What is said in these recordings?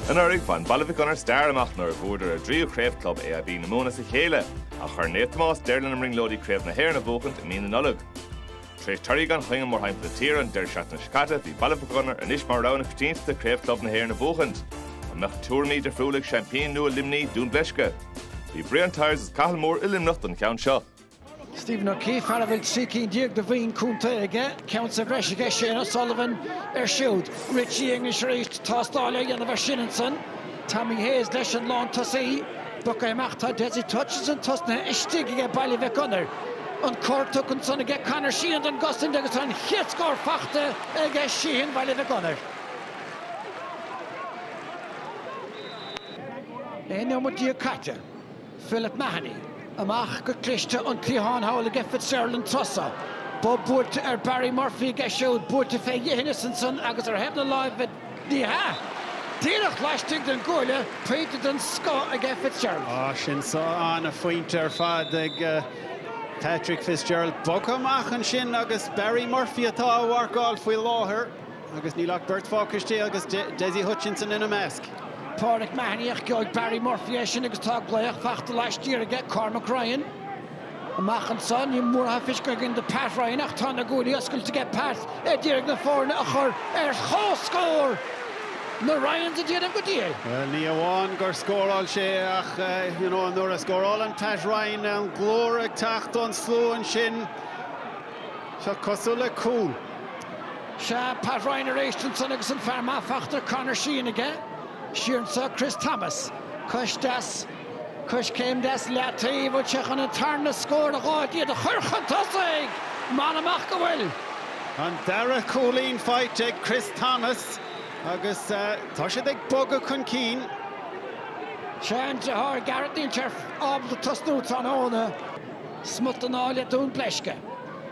Anuraidh, bhain Baile Mhic Ionair stair amach nuair a bhfuaireadar a dtríú craobh club AIB na Mumhan as a chéile, ach chuir Naomh Tomás deireadh lena mbrionglóidí Craobh na hÉireann a bhuachaint i mí na Nollag. Tar éis torthaí gan choinne mórthimpeall na tíre an deireadh seachtaine seo caite, bhí Baile Mhic Ionair anois mar rogha na coitiantachta Craobh Club na hÉireann a bhuachaint. An mbeadh tuairimí difriúla ag seaimpín nua Luimnigh, Dún Bleisce? Bhí Brian Tyers is Cathal Moore i Luimneach don cheann seo. Stephen O'Keefe, fear a bhfuil trí cinn déag de bhoinn contae aige, ceann sa bhreis aige, Shane O'Sullivan air siúd, Richie English arís, tástáil á dhéanamh ar sin ansan, Tommy Hayes leis an lántosaí, bogtha amach, tá Dessie Hutchinson tosnaithe istigh aige, Baile Mhic Gonair, an cor tugtha ansan aige, Conor Sheehan don gcosaint agus tá an chéad scór fachta aige, Sheehan, Baile Mhic Gonair. Aon nóiméad déag caite. Philip Mahony, amach go cliste an cliathán thall aige Fitzgerald tharsa, bob buailte ar Barry Murphy aige siúd, buailte fé dhithineas ansan agus ar thaobh na láimhe, ní hea! díreach laistigh den gcuaille, pointe den scoth aige Fitzgerald. Á, sin é an ana-phointe ar fad ag Patrick Fitzgerald, bogtha amach ansin agus Barry Murphy atá á mharcáil faoi láthair. Agus níl ach beirt fágtha istigh agus Dessie Hutchinson ina measc. Pauric Mahony ach gheobhaidh Barry Murphy é sin agus tá glaoch faighte laistiar aige, Cormac Ryan. Amach anso níl mórán feicthe againn do Pat Ryan ach tá na guaillí oscailte aige Pat ar iarraidh na foirne a chur ar comhscór! Na Ryans ag déanamh go diail. Bhuel ní amháin gur scóráil sé ach you know nuair a scórálann Pat Ryan an glór ag teacht ón slua ansin. Seo cosúil le cúl. Sea, Pat Ryan arís ansan agus an fear breise fachta Conor Sheehan aige. Siar anso Chris Thomas. Cois deis, coiscéim deis leataoibh, bhfuil sé chun an tarna scór, a dh'fháil, iad a chuir chun tosaigh! M'anam ach go bhfuil! An dara cúilín faighte ag Chris Thomas agus tá siad ag bogadh chun cinn. Sea an driotháir Gareth Níl sé ábalta tosnú tráthnóna. Smut den ádh le Dún Bleisce.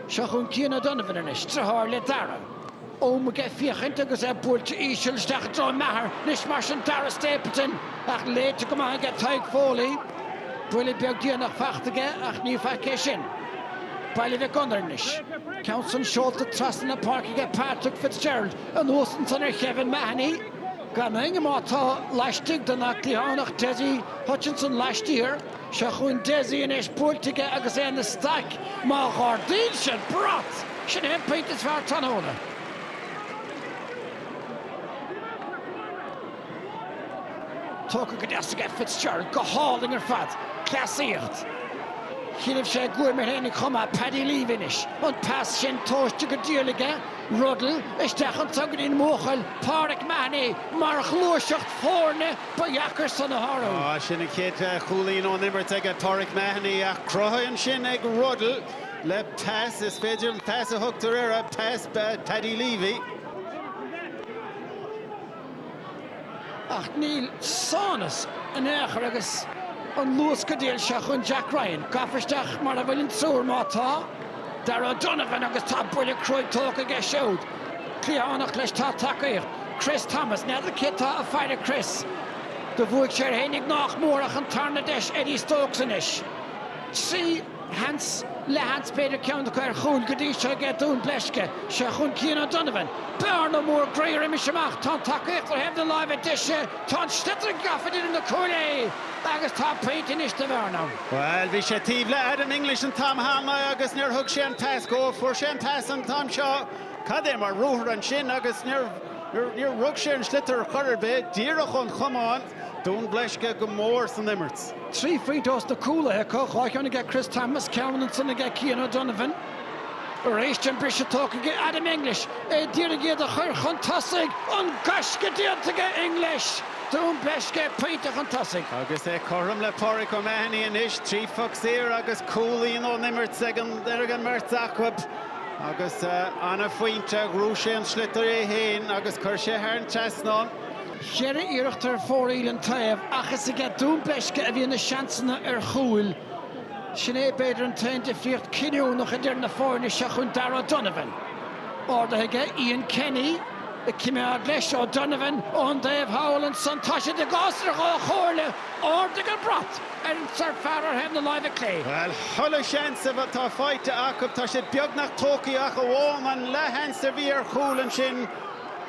Seo chugainn Cian O'Donovan anois, driotháir le Darragh amuigh ag féachaint agus é buailte íseal isteach i dtreo Maher anois mar sin Darragh Stapleton ach léite go maith aige Tadhg Foley. Buille beag déanach faighte aige ach ní faic é sin. Baile Mhic Gonair anois. Ceann san seolta trasna na páirce aige Patrick Fitzgerald anuas ansan ar Khevin Mahony. Gan éinne leis tá laistigh de ná cliathánach Dessie Hutchinson laistiar. Seo chun Dessie anois, buailte aige agus é ina staic. Má ardaíonn sé an brat, sin é an pointe is fearr an tráthnóna. Tógtha go deas aige Fitzgerald, go hálainn ar fad. Cleasaíocht. Choinnibh sé guaim air féinig chun Paddy Leavey anois. An pas sin tomhaiste go diail aige Ruddle, isteach anseo go dtí an mbuachaill Pauric Mahony mar ghluaiseacht foirne. Ba dheacair san a shárú. Sin an chéad chúilín ón imirt aige Pauric Mahony ach cruthaithe ansin ag Ruddle le pas, is féidir an pas a thugtar air, pas Paddy Leavey. Ach níl sámhnas in aon chor agus an luas go diail seo chun Jack Ryan gafa isteach mar a bhfuil an triúr má tá, Darragh O'Donovan agus tá buille cruaidh tógtha aige siúd. cliathánach leis tá tacaíocht Chris Thomas, n'fheadar cé tá ag faire Chris? do bhuaigh sé air féinig nách mór ach an tarna deis Eddie Stokes anois trí sheans leathsheans b'fhéidir ceann acu ar chúil go dtí seo aige Dún Bleisce seo chun Cian O'Donovan, bearna mór groí roimis amach tá an tacaíocht ar thaobh na láimhe deise tá an sliotar gafa idir na cuaillí agus tá pointe anois de bhearna. Bhuel, bhí sé taobh le Adam English an t-am cheana agus níor thug sé an pas dhó. Fuair sé an pas an t-am seo, cad é mar ruathar ansin agus níor rug sé an sliotar ar chor ar bith, díreach ón chamán. Dún Bleisce go mór san imirt. Trí phointe ós na cúlaithe acu, dhá cheann aige Chris Thomas, ceann ansin aige Cian O'Donovan. Aríst an briseadh tógtha aige Adam English, é ag d'iarraidh iad a chur chun tosaigh. An gaisce déanta aige English! Dún Bleisce pointe chun tosaigh. Agus é cothrom le Pauric O'Mahony anois, trí phoc saor agus cúilín ón imirt ag an mbeirt acu, agus an-phointe, ghnóthaigh sé an sliotar é féin agus chuir sé thar an trasnán. Cheithre iarracht ar fóraoil an taobh, ach is aige Dún Bleisce a bhí na seansanna ar chúil. Sin é b'fhéidir an t-aon difríocht cinniúnach idir na foirne seo chun Darragh O'Donovan. Ardaithe aige, Ian Kenny ag coimeád leis, O'Donovan ón dtaobh thall ansan. Tá siad i gcás idir dhá chomhairle. Ardaigh an brat ar an sárfhear ar thaobh na láimhe clé. Bhuel, chuile sheans atá faighte acu. Tá siad beagnach tógtha ach amháin an leathsheans a bhí ar chúl ansin.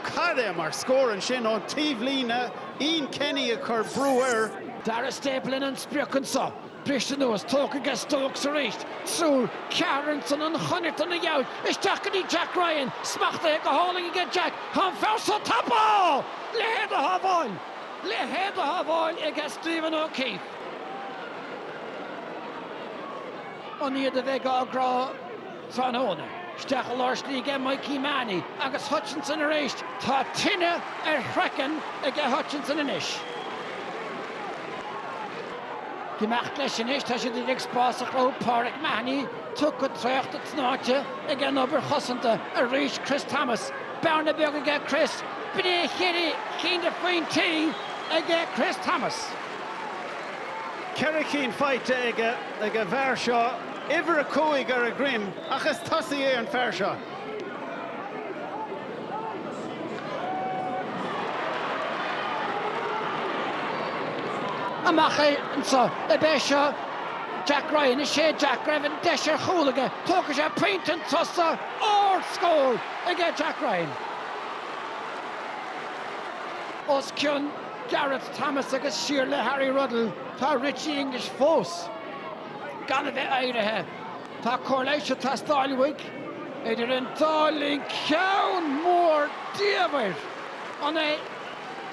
Cad é mar scór ansin ón taobhlíne. Ian Kenny ag cur brú air. Dara Stapleton an sprioc anso. Briste anuas, tógtha aige Stokes arís, triúr ceathrar ansan an chonairt ina dheabhaidh, isteach go dtí Jack Ryan, smachtaithe go hálainn aige Jack, tá an fear seo tapúil! Leithéid de shábháil! Leithéid de shábháil aige Stephen O'Keefe. An iad a bheidh á gcrá? tráthnóna. Isteach i lár slí aige Mikey Mahony agus Hutchinson arís. Tá tine ar chraiceann aige Hutchinson anois. Ag imeacht leis anois, tá siad ag iarraidh spás a chruthú Pauric Mahony tugtha, traochta, tnáite ag an obair chosanta arís Chris Thomas. Bearna beag aige Chris, b'in cheithre chinn de phointí aige Chris Thomas. Ceithre chinn faighte aige, ag an bhfear seo. uimhir a cúig ar a dhroim ach is tosaí é an fear seo. Amach é anseo. Ab é seo Jack Ryan? Is é Jack. Raibh an deis ar chúl aige. Tógfaidh sé pointe an tosaí. Ardscór aige Jack Ryan. Os cionn Gareth Thomas agus siar le Harry Ruddle tá Richie English fós. gan a bheith éirithe. Tá cóir leighis ag teastáil uaidh. Idir an dá linn ceann mór diamhair. An é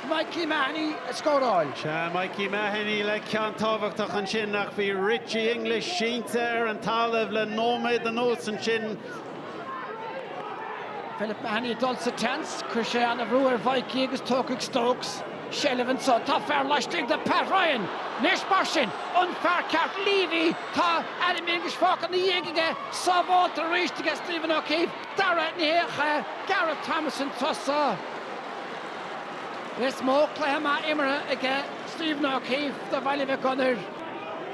Mikey Mahony a scóráil? Is é, Mikey Mahony le ceann tábhachtach ansin ach bhí Richie English sínte ar an talamh le nóiméad anuas ansin Philip Mahony ag dul sa tseans. Chuir sé an-bhrú ar Mhaidhcí agus tógfaidh Stokes seilbh anseo. Tá fear laistigh de Pat Ryan. Anois mar sin, an fear ceart Leavey? Tá Adam English fágtha ina dhiaidh aige. Sábháilte arís aige Stephen O'Keefe. Tarna hiarracht, Gareth Thomas an tosaí. Is mó cluiche maith imeartha aige Stephen O'Keefe do Bhaile Mhic Gonair.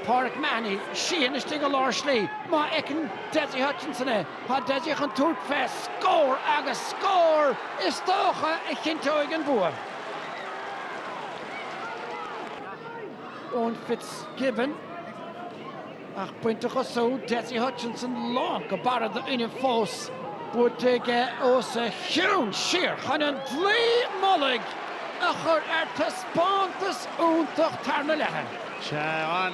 Pauric Mahony, Sheahan istigh i lár slí. Má fheiceann. Dessie Hutchinson é. Tá Dessie chun tabhairt fé scór agus scór is dócha a chinnteoidh an bua. Eoin Fitzgibbon ach baint a chosú. Dessie Hutchinson lán go barra d'fhuinneamh fós. Buaite aige os a chionn siar chun an dlaoi mullaigh a chur ar taispeántas iontach tarna leath. Tá an.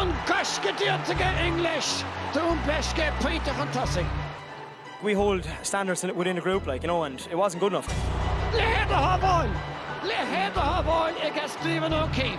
An gaisce déanta aige English, Dún Bleisce pointe chun tosaigh. Leithéid de shábháil! Leithéid de shábháil ag Stephen O'Keeffe.